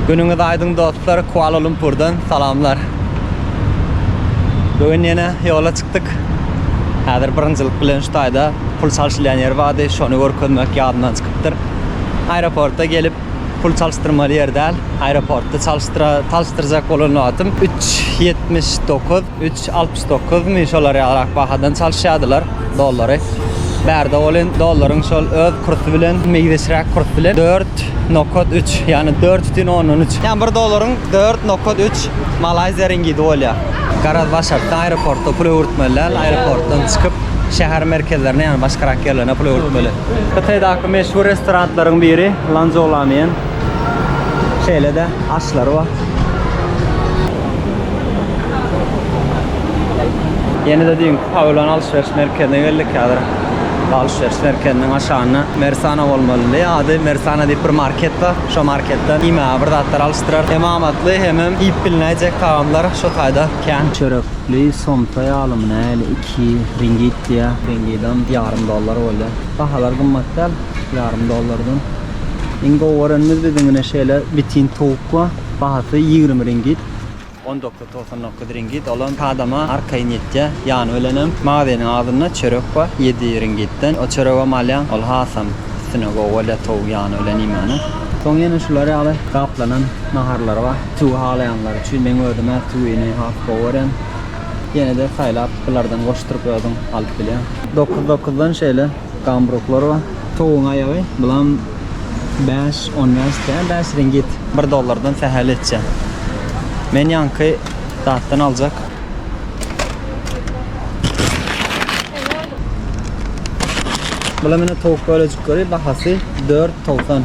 Günüňiz aýdyň dostlar Kuala Lumpurdan salamlar. Bu gün ýene ýola çykdyk. Häzir birinjilik bilen şu taýda pul çalşylýan ýer bardy, şony görkezmek ýadymdan çykypdyr. Aeroporta gelip pul çalşdyrmaly ýer däl. Aeroportda çalşdyra çalşdyrjak bolan wagtym üç ýetmiş dokuz Üç altmyş dokuzmy şolar ýalyrak bahadan çalyşýardylar dollary. Bärde ol indi dollaryň şol öz kursy bilen, meýzeşräk kurs bilen dört nokat üç, ýagny dört bütin ondan üç. Ýagny bir dollaryň dört nokat üç malaýziýa ringidi bolýar. Garaz başartdy aeroportda pul öwürtmeli däl, aeroportdan çykyp şäher merkezlerine, ýagny başgarak ýerlerine pul öwürtmeli. Hytaýdaky meşhur restoranlaryň biri Lanzhou Lamian. Şeýle-de aşlary bar. Ýene-de düýnki pawilon alşyryş merkezine geldik. Häzir alşyryş merkeziniň aşagynda Mersana bolmalydy. Ady Mersana diýip bir market bar. Şo marketden iýmäge bir zatlar alyşdyrar. Hem amatly, hemem iýip bilnäýjek tagamlar şo taýda kän. Çörekli somsa ýalymy näli? Iki ringit diýýär. Ringidam ýarym dollar bolýar. Bahalar gymmat däl, ýarym dollardan. Iň gowy görenimiz biziň ine şeýle bitin towuk bar. Bahasy ýigrimi ringit. On dokuz, togsan dokuz ringit, ol hem adama arkaýyn ýetýär. Ýany bilenem magazynyň agzynda çörek bar, ýedi ringitden. Ol çöregem alýaň, ol hasam üstüne gowy bolýar towuk ýany bilen iýmäniň. Soň ýene şular ýaly gaplanan naharlar bar. Tüwi halaýanlar üçin. Meň özüm-ä tüwini has gowy görýän. Ýene-de saýlap bulardan goşduryp özüň alyp bilýäň. Dokuz, dokuzdan şeýle. Gambruklar bar. Towugyň aýagy. Bulam bäş, on bäş däl, bäş ringit. Bir dollardan sähel etjä. Men ýaňky zatdan aljak. Bulam ine towuk bölejikleri, bahasy dört togsan.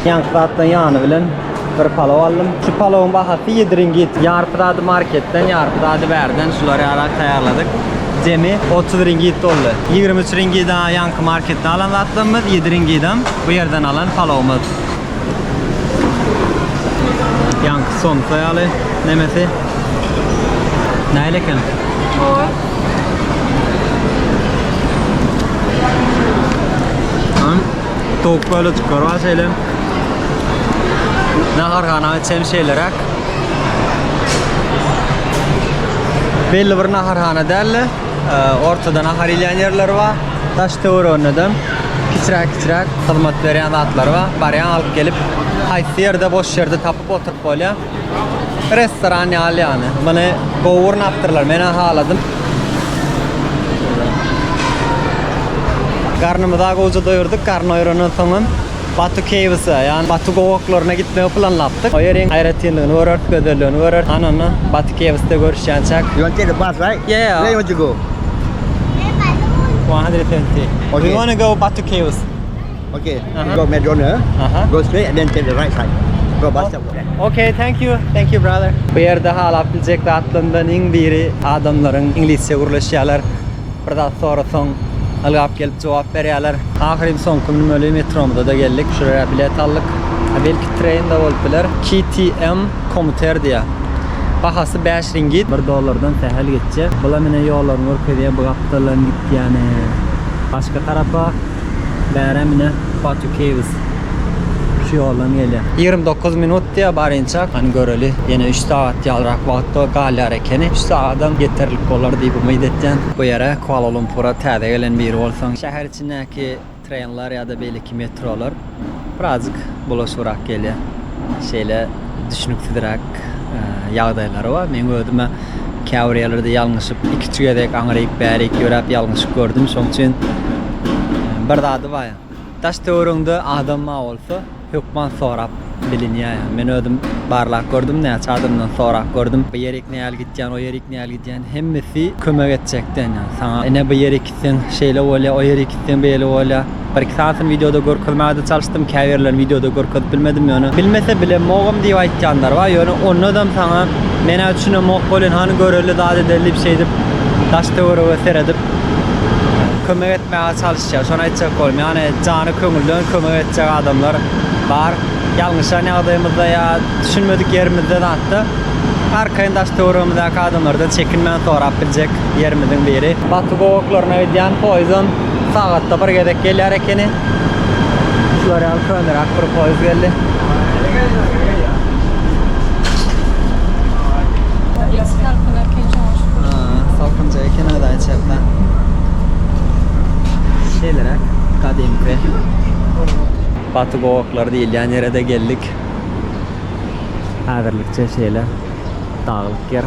Ýaňky zatdan ýany bilen bir palaw aldym. Şu palawyň bahasy 7 ringit. Ýarpy zady marketden, ýarpy zady bärden şulary ýaly taýýarladyk. Jemi 30 ringit boldy. 23 ringida ýaňky marketde alan zatlarymyz, 7 ringidam bu ýerden alan palawymyz. Ýaňky somsa ýaly nemesi. Nähili eken? Gowy. Hum. Towuk böyle çykar var şeyle. Nahar gana içen şeylerak. Belli bir naharhana däl-de, e, ortada nahar iýen ýerleri bar. Daş töwereginde de Kiçiräk kiçiräk hyzmat berýän zatlary bar. Barýaň alyp gelip haýsy ýerde boş ýerde tapyp oturyp bolýar. Restoran ýaly ýagny. Muny gowy gurnapdyrlar menä haladym. Garnymyza gowja doýurdyk garny oýrandan soňam. Batu Caves-a, ýagny Batu gowaklaryna gitmegi planlapdyk. O ýeriň aýratynlygyny göreris, gözelligini göreris. Ana onda Batu Caves-de görüşýänçäk. You want take a bus, right? Yeah, yeah. Where you want to go? One hundred twenty. Okay. We wanna go Batu Caves. Okay. Uh-huh. Go Maze Runner. Uh-huh. Go straight and then take the right side. Go bus stop. Okay, thank you. Thank you, brother. Bu ýerde halap biljek zatlaryndan iň biri adamlaryň iňlisçe gürleşýärler. Bir zat sorasaň, ylgap gelip jogap berýärler. Ahyryn soňky münmeli metromyza-da geldik. Şuraya bilet aldyk. Belki train-de bolup biler. KTM Commuter diýýär. Bahasy bäş ringit. Bir dollardan sähel geçjek. Bula menä ýollaryny görkezýän bu gapdaldan gitýäni başga tarapa. Bärem ine Fatih Keýwis şu ýoldan gelýär. Ýigrimi dokuz minut diýýär barynça. Hany göreli. Ýene üç sagat ýalrak wagt galýar ekeni. Üç sagadam ýeterlik bolar diýip umyt etýän. Bu ýere Kuala-Lumpura täze gelen biri bolsaň, şäher içindäki trenler ýa-da beýleki metrolar. Birazjyk bulaşygrak gelýär. Şeýle düşnüksizräk ýagdaýlary bar. Meň özüm-ä käbir ýerlerde ýalňyşyp, ikiçi gezek aňryk, bärik ýöräp ýalňyşyk gördüm. Şoň üçin bir zady bar. Daş-töweregiňde adam bar bolsa, hökman sorap bilinýär. Men özüm barlap gördüm, näçe adamdan sorap gördüm. Bu ýerik nähili gitýän, o ýerik nähili gidýän, hemmesi kömek etjekden, ýagny saňa ine bu ýerik. gitseň şeýle bolýar, o ýere gitseň beýle bolýar. Bir-iki sanysyny wideoda görkezmäge-de çalyşdym, käbirlerini wideoda görkezip bilmedim, ýöne bilmese bilemogam diýip aýtýanlar bar, ýöne ondadam saňa men-ä düşünemok welin, hany göreli zat edeli diýip şeýdip daş-töwerege seredip kömek etmäge çalyşýar. Şony aýtjak boldum, ýagny jany köňülden kömek etjek adamlar bar. Ýalňyşan ýagdaýymyzda ýa düşünmedik ýerimizde zatda arkaýyn daş-töweregimizdäki adamlardan çekinmän sorap biljek. ýerimiziň biri. Baky gowaklaryna gidýän poýzam sagatda bir gezek gelýär ekeni. Şular ýaly köneräk bir poýz geldi. Salkyn eken şoňa şükür. Salkynja eken özi aýçäkle. Şeýleräk gadymky. Baky gowaklary diýilýän ýere-de geldik. Häzirlikçe şeýle daglyk ýer.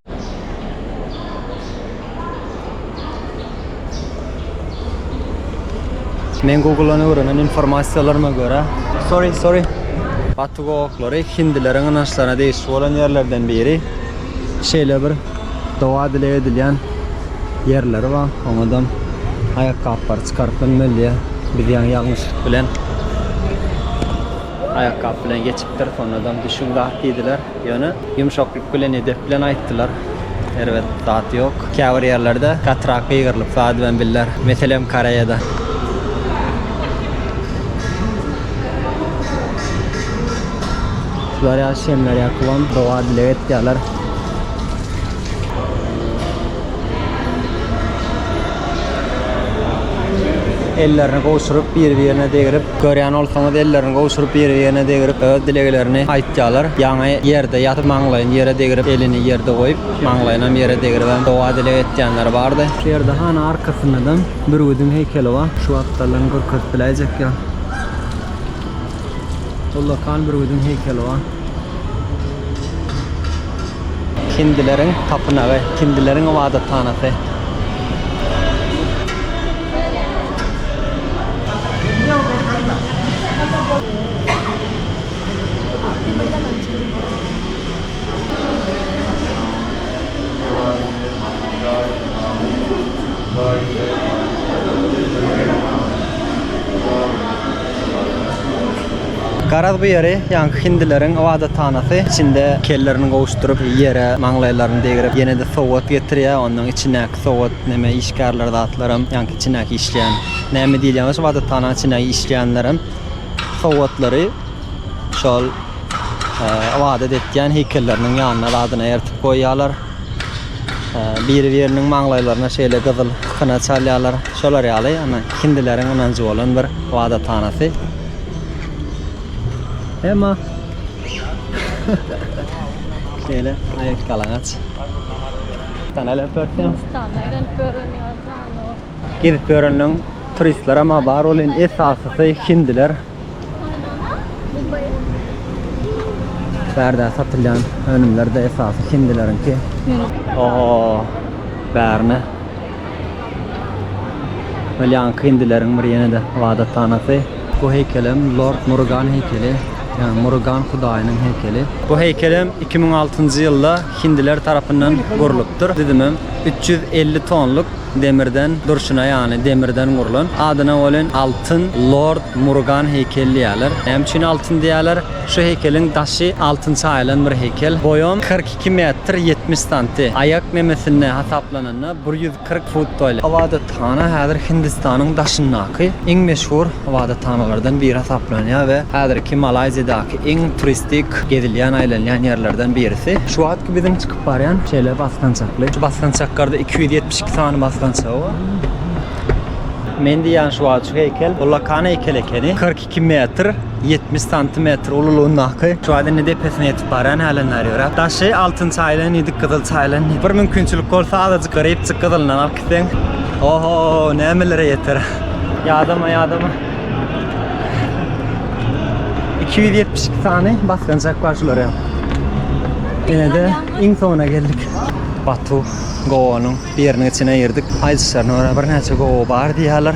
Men Google-dan öwrenen informasiýalaryma görä, sorry, sorry, Batu gowaklary hindileriň ynançlaryna degişli bolan ýerlerden biri. Şeýle bir doga-dileg edilýän ýerleri bar. Oňadam aýakgaplary çykaryp bilmeli diýýär. Biz ýaňy ýalňyşlyk bilen aýakgap bilen geçipdiris, onadam düşüň zat diýdiler. Ýöne. Ýumşaklyk bilen edep bilen aýtdylar. Erbet zat ýok. Käbir ýerlerde gatyrak gygyrylyp zat bilen bildiler. Meselem Koreýada. Şular ýaly şemler ýakyp oň doga dileg etýärler. Ellerini gowşuryp bir birine degrip Görýän bolsaňyz ellerini gowşuryp biri-birine degrip öz dileglerini aýtýalar. Ýaňy ýerde ýatyp maňlaýyny ýere degrip elini ýerde goýup maňlaýynam ýere degribem doga dileg etýänler bardy. Berdi hanyň arkasyndadam bürgüdiň heýkeli bar. Şu atlardan görkezip biläýjek ýa. Ullakan bürgüdiň heýkeli bar. Hindileriň tapynagy, hindileriň ybadathanasy. Garaz bu ýeri ýaňky hindileriň ybadathanasy. Içinde kellerini gowuşdyryp, ýere maňlaýlaryny degrip, ýene-de sowgat getirýär, ondan içindäki Sowat neme işgärler zatlaram ýaňky içindäki işleýän näme diýilýän bolsa ybadathanaň içindäki işleýänlerem sowatlary şol ybadat etýän heýkelleriniň ýanyna zadyna ertip goýýarlar. Biri biriniň maňlaýlaryna şeýle gyzyl kyna çalýarlar. Şolar ýaly ana hindileriň ynanjy bolan bir ybadathanasy. Emma şeýle aýak galaňaç. Sen alyp bersen. Gezip görenleň turistler ama bar ol en esasysy hindiler. Bärde satylýan önümler de esasy hindileriňki. Oho. Bärne. Belýanky hindileriň bir ýene de ibadathanasy. Bu heýkelem Lord Murugan heýkeli, ýagny Murugan hudaýynyň heýkeli. Bu heýkelem iki müň altynjy ýylda hindiler tarapyndan gurlupdyr. Düzümem üç ýüz elli tonluk demirden durşuna, ýagny demirden gurlan. Adyna welin Altyn Lord Murugan heýkeli diýýärler. Näme üçin altyn diýýärler? Şu heýkeliň daşy altyn çaýylan bir heýkel. Boýam kyrk iki metr ýetmiş santi. Aýak memesine hasaplananda bir ýüz. Kyrk fut boýly ybadathana häzir Hindistanyň daşyndaky iň meşhur ybadathanalardan biri hasaplanýar we häzirki Malaýziýadaky iň turistik gezilýän, aýlanýan ýerlerden birisi. Şu wagtky biziň çykyp barýan şeýle basgançakly. Şu basgançaklarda iki ýüz ýetmiş iki sany basgançagy bar. Men diýýän şu wagtky heýkel, bu Lakan heýkeli ekeni. Kyrk Iki metr ýetmiş santimetr ululygyndaky Şuadini depesine ýetip barýan älänler ýörä. Daşy altyn çaýylany, ýedi gyzyl çaýylany. Bir mümkinçilik bolsa azajyk grepçik gyzylyndan alyp gitseň, oho, nämelere ýeter. Ýadama, ýadama. Iki ýüz ýetmiş iki sany basgançak bar şular hem. Ine-de iň soňuna geldik. Batu gowanyň biriniň içine girdik. Aýdyşlaryna görä birnäçe gowa bar diýýärler.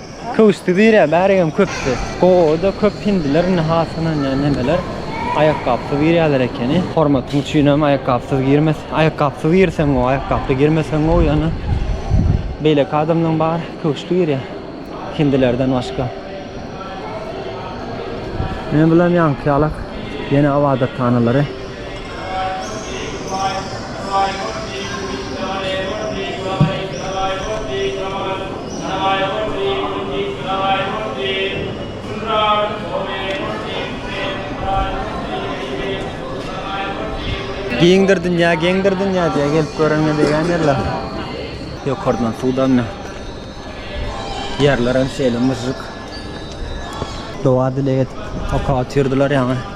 Köwüşdi bire bärigem köpdi. Gowoda köp hindiler indi has synanýan nemeler aýakgapsyz girýäler ekeni. Hormatyň üçinem aýakgapsyz girmes. Aýakgapsyz girseň gowy, aýakgaply girmeseň gowy ýöne beýleki adamlaň bary köwüşdi girýä hindilerden başga. Men bilen ýaňky ýalak ýene ybadathanalara. Giňdir dünýä, geňdir dünýä diýýär. Gelip göreniňe degýän ýerler. Ýokardan suw damýar. Ýerler hem şeýle myžžyk. Doga-dileg edip, oka otyrdylar ýaňy.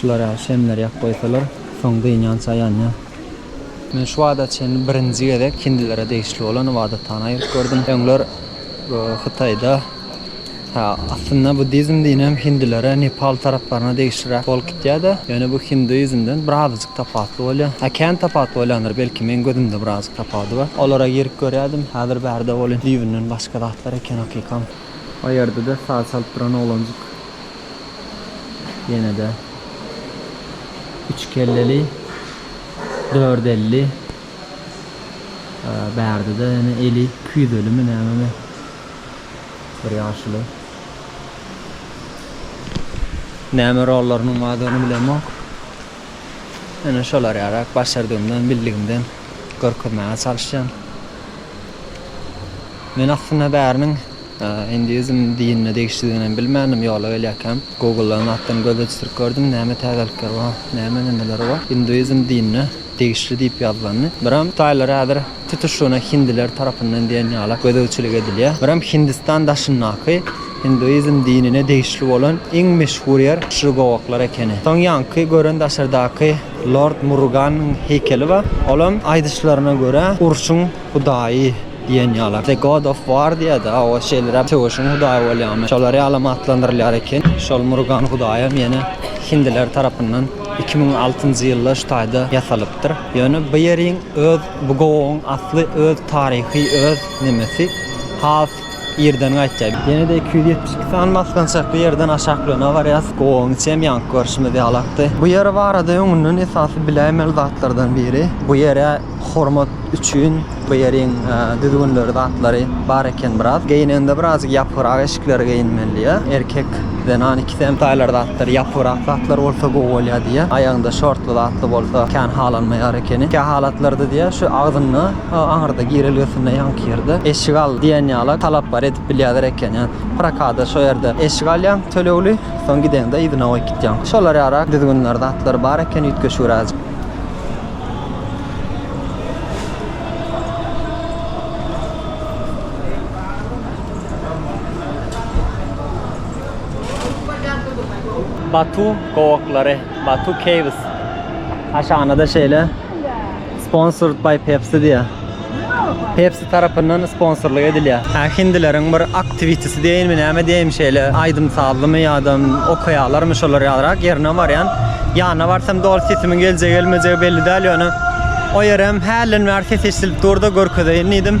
Şular ýaly şemleri ýakyp goýsalar, soň dynýança ýanýar. Men şu wagta çenli birinji gezek hindilere degişli bolan ybadathanä girip gördüm. Öňler Hytaýda, hä, aslynda buddizm dininem hindilere, Nepal taraplaryna degişliräk bolup gitýär-de, ýöne bu hinduizmden birazajyk tapawutly bolýar. Hä, kän tapawut bolýandyr, belki, meň gözümde birazajyk tapawudy bar. Olara girip görýärdim, häzir bärde bolýan düýbünden başga zatlar eken hakykam. Oýerdi-de saz çalyp duran oglanjyk. Ýene-de üç kelleli, dört elli. Bärde-de ýene eli küýzelimi nämemi bir ýaşuly. Näme rollarynyň bardygyny bilemok. Ýene şolar ýaly, başardygymdan, bildigimden. görkezmäge çalyşýan. Men aslynda bäriniň hinduizm dinine degişlidigini hem bilmändim. Ýola gelýärkäm Google-dan zatlaryň gözüne düşürip gördüm. Näme täzelikler bar, näme ündeler bar. Hinduizm dinine degişli diýip ýazylandy. Biram taýlar häzir tutuşlygyna hindiler tarapyndan diýen ýala gözegçilik edilýär. Biram Hindistan daşyndaky hinduizm dinine degişli bolan iň meşhur ýer Şri Gowaklar ekeni. Soň ýaňky gören daşardaky Lord Muruganyň heýkeli bar. Olam aýdyşlaryna görä urşuň hudaýy diýen ýala. The God of War diýýärdi a o şeýleräk söweşiň hudaýy bolýamy şolar ýalam atlandyrylýar eken. Şol Murugan hudaýam ýene hindiler tarapyndan iki müň altynjy ýylda şu taýda ýasalypdyr. Ýöne bu ýeriň öz bu gowagyň asly öz taryhy öz nemesi has Irden gaýtýar. Ýene-de iki ýüz ýetmiş iki sany basgançakly ýerden aşak Lönä barýas. Gowagyň içem ýaňky görşümiz ýaly akdy. Bu ýer barada öňünden esasy biläýmeli zatlardan biri, bu ýere hormat üçin bu ýeriň düzgünleri zatlary bar eken biraz. Geýneňde birazjyk ýapygrak eşikleri geýinmeli diýýä. Erkek, zenan ikisi hem taýlar zatlar ýapygrak zatlar bolsa gowy bolýar diýýä. Aýagyňda şortly zatly bolsa kän halanmaýar ekeni. Kähalatlarda diýýä şu agzynda Aňyrda girelgesinde ýaňky ýerde eşik al diýen ýala talap bar edip bilýäler eken. Ýa prokada şo ýerde eşik alýaň tölegli, soň gideňde yzyna goýup gitýäň. Şolar ýarak düzgünler zatlar bar eken üýtgeşigräjik. Batu gowaklary, Batu Caves. Aşagyna-da şeýle. Sponsored by Pepsi diýýär. Pepsi tarapyndan sponsorlyk edilýär. Hä, hindileriň bir aktiwitisi diýeýinmi, näme diýeýin, şeýle aýdym-sazlymy ýa-da okaýarlarmy şolar ýalyrak, ýerine barýan. Ýanyna barsam doly sesimiň geljegi-gelmejegi belli däl, ýöne o ýerem hälden bäri ses eşidilip dur-da, görkezeýin diýdim.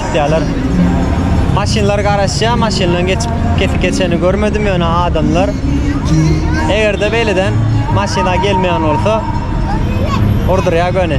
Gitýärler. Maşynlar garaşýar, maşynlaryň geçip kesik geçenini görmedim, ýöne adamlar. Eger-de beýleden maşyna gelmeýän bolsa, urdurýar göni.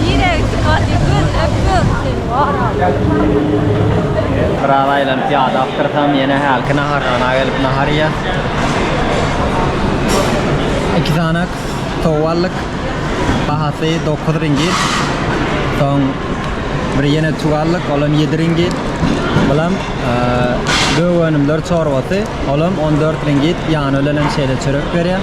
Nirä gitdi Katya göz öp göz seni bar al. Biraz aýlanyp ýada akdyrsam ýene hälki naharhana gelip nahar iýer. Iki sanak towuk aldyk. Bahasy dokuz ringit. Soň bir ýene tüwi aldyk, olam ýedi ringit. Bulam gök önümler çorbasy, olam on dört ringit. Ýany bilen hem şeýle çörek berýär.